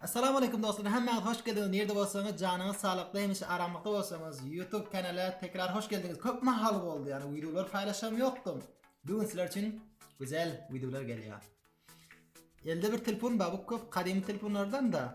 Assalamu aleykum dostlar. Hemmäňiz hoş geldiňiz. Nirde bolsaňyz, janyňyz salykda, hemişe aramlykda bolsaňyz, YouTube kanala tekrar hoş geldiňiz. Köp mahal boldy, yani videolar paylaşam ýokdum. Bugün sizler üçin güzel videolar gelýär. Elde bir telefon bar, bu köp kadim telefonlardan da.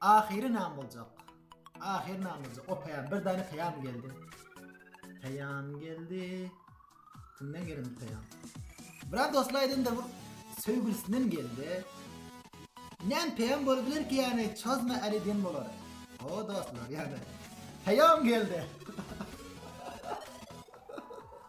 Ahyry nam boljak. Ahyry nam boljak. O peýam bir dany peýam geldi. Peýam geldi. Kimden geldi bu peýam? Biraz dostlar aýdymda bu söýgülisinden geldi. Näme peýam bolup biler ki ýani çözme äli diýen bolar. O dostlar ýani. Peýam geldi.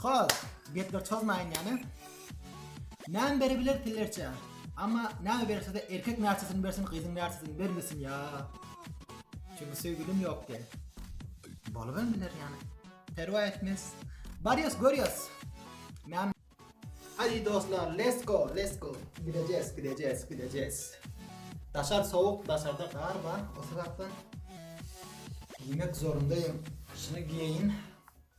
Hol, gepler çozmaýyn ýaly. Näme berebiler pillerçä? Amma näme berse-de erkek närçesini bersin, gyzyň närçesini bermesin ýa. Çünki söýgülim ýok diýen. Bolubam biler ýaly. Perwa etmez. Barýas, görýäs. Näme? Hadi dostlar, let's go, let's go. Gidejes, gidejes, gidejes. Daşar sowuk, daşarda gar bar. O sebäpden giymek zorundaýym. Şuny giýeýin.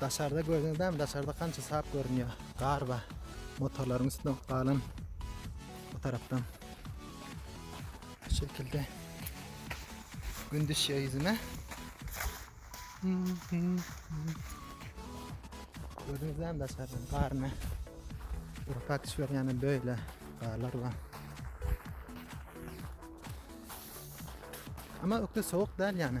Daşarda gördüňiz mi? Daşarda kança sap görünýär. Gar bar. Motorlaryň üstünde galan bu tarafdan. Şu şekilde. Gün düşýär ýüzüme. Gördüňiz mi daşarda garny? Urpak düşüp ýany böyle garlar bar. Ama ökde soğuk değil yani.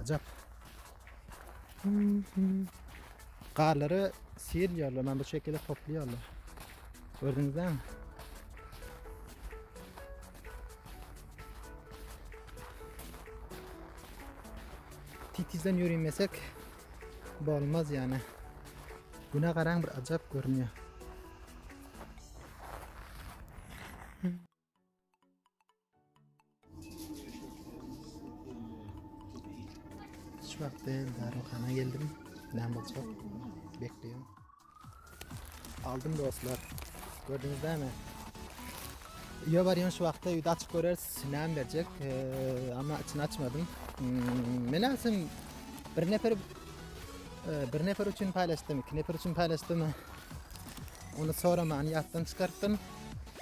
Ajap. Garlary sirýärler, men bu şekilde toplaýarlar. Gördüňizmi? Titizden ýörimäsek bolmaz ýani. Güne garaň bir ajap görünýär. Şu wagtda darygana geldim. Näme bolsa bekleýän. Aldym dostlar. Gördüňiz näme? Öýe barýan şu wagtda öýde açyk göreris, näme berjek. Eee, amma içini açmadym. Hmm, Men aslym bir nefer e, bir nefer üçin paýlaşdym, iki nefer üçin paýlaşdym. Onu soraman ýatdan çykartdym.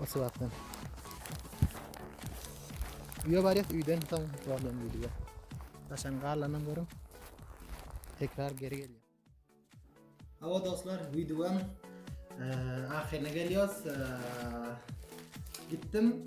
O sebäpden. Üýe barýas, üýden soň problem diýdi. Daşan garlanam görüň. Tekrar geri gelýär. Hawa dostlar, wideoň e, ahyryna gelýärys. E, gitdim.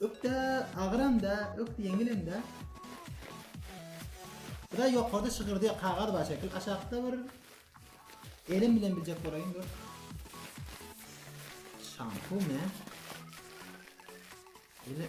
Ökde agyram da, ökde ýeňilim da. Bu da ýokarda şygyrdy kagaz bar şekil. Aşakda bir elim bilen biljek bolaýyn dur. Şampu ne? Ele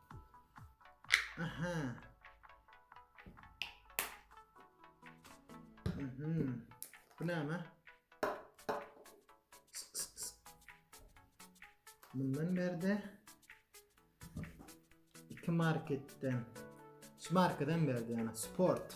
Aha. Mhm. Bu näme? Bundan berde iki marketden şu markadan berdi yani sport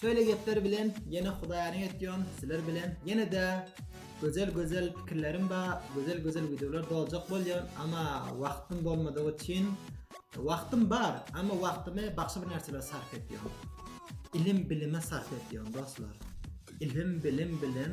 Şeýle gepler bilen ýene hudaýalyň etýon sizler bilen ýenede gözel gözel pikirlerim bar gözel gözel wideolar doljak bolýan ama wagtym bolmadygy üçin wagtym bar ama wagtymy başga bir närselere sarp etýan ilim bilime sarp etýan dostlar ilim bilim bilen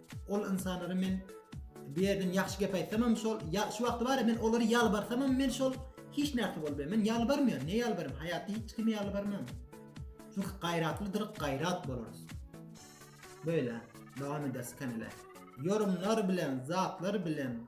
Ol ynsanlara men bir ýerden ýagşy gep aýtsamam şol, ýa şu wagty bar men olary ýalbarsamam men şol hiç näse bolmaýar. Men ýalbarmaýan, ne ýalbarym? Haýatda hiç kimi ýalbarman. Çünki gaýratlydyr, gaýrat bolarys. Böyle, dowam ederis kanala. Ýorumlar bilen, zatlar bilen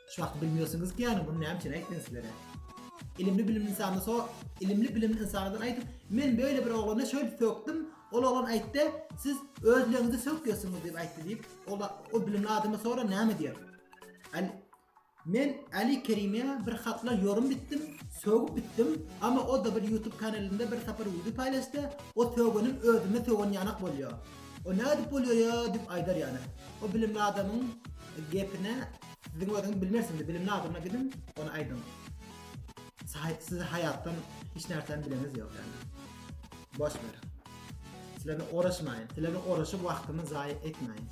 Çak bilmiyorsunuz ki yani bunu näme üçin aýtdym sizlere. Ilimli bilimli insana so ilimli bilimli insanadan aýdyp men böyle bir oglana şöyle sökdüm ol oglan aýtdy siz özleňizi sökýärsiňiz diýip aýtdy diýip ol o bilimli adama sora näme diýer. Al Men Ali Kerime bir hatla yorum bitdim, sögüp bitdim, ama o da bir YouTube kanalynda bir sapar video paylaştı, o sögünüm özüme sögün yanak bolýar. O ne edip bolýar ya dip aýdar yani. O bilimli adamyň gepine Siziň özüňiz bilmersiňiz, bilimli adama gidiň, ony aýdyň. Siz haýatdan hiç närseni bileniz ýok ýaly. Boş ber. Sizlerle oraşmaýyn. Sizlerle oraşyp wagtymy zaýa etmäýin.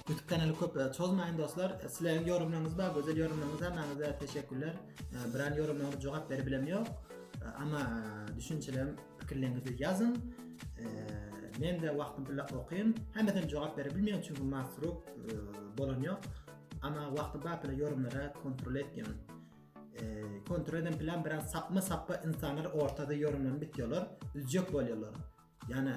YouTube kanaly köp e, çozmaýyn dostlar. E, sizleriň ýorumlaryňyz bar, gözel ýorumlaryňyz bar. teşekkürler. E, Biran ýorumlaryňyza jogap berip bilemok. Amma düşünçelerim Pikirleriňizi ýazyň. Men de wagtym bile okaýyn. Hemmesine jogap bere bilmeýän çünki masrup bolan ýok. Ana wagty bar bile ýorumlara kontrol etýän. Kontrol eden plan bilen sapma sapma insanlar ortada ýorumlanyp bitýärler. Üzjek bolýarlar. Ýana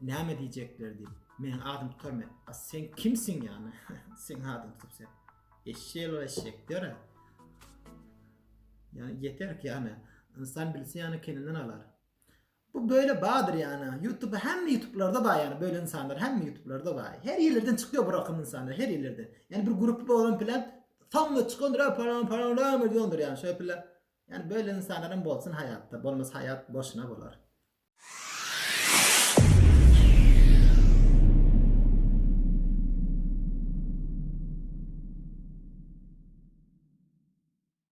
näme diýjekler diýip. Meniň adym tutarmy? A sen kimsiň ýana? Sen adym tutup sen. Eşşek ol eşşek. Ýöre. Ýa ýeter ki ýane ynsan bilse ýane keninden alar. Bu böyle badyr ýane ýutuba hemme ýutublarda bar ýane böyle ynsanlar hemme ýutublarda bar. Her ýerlerden çykýar bu rakam ynsanlar her ýerlerden. Ýane bir grup bolan bilen sammy çykandyr a palan palan lam edýändir ýane şeýle pille. Ýane böyle ynsanlar hem bolsun haýatda bolmasa haýat boşuna bolar.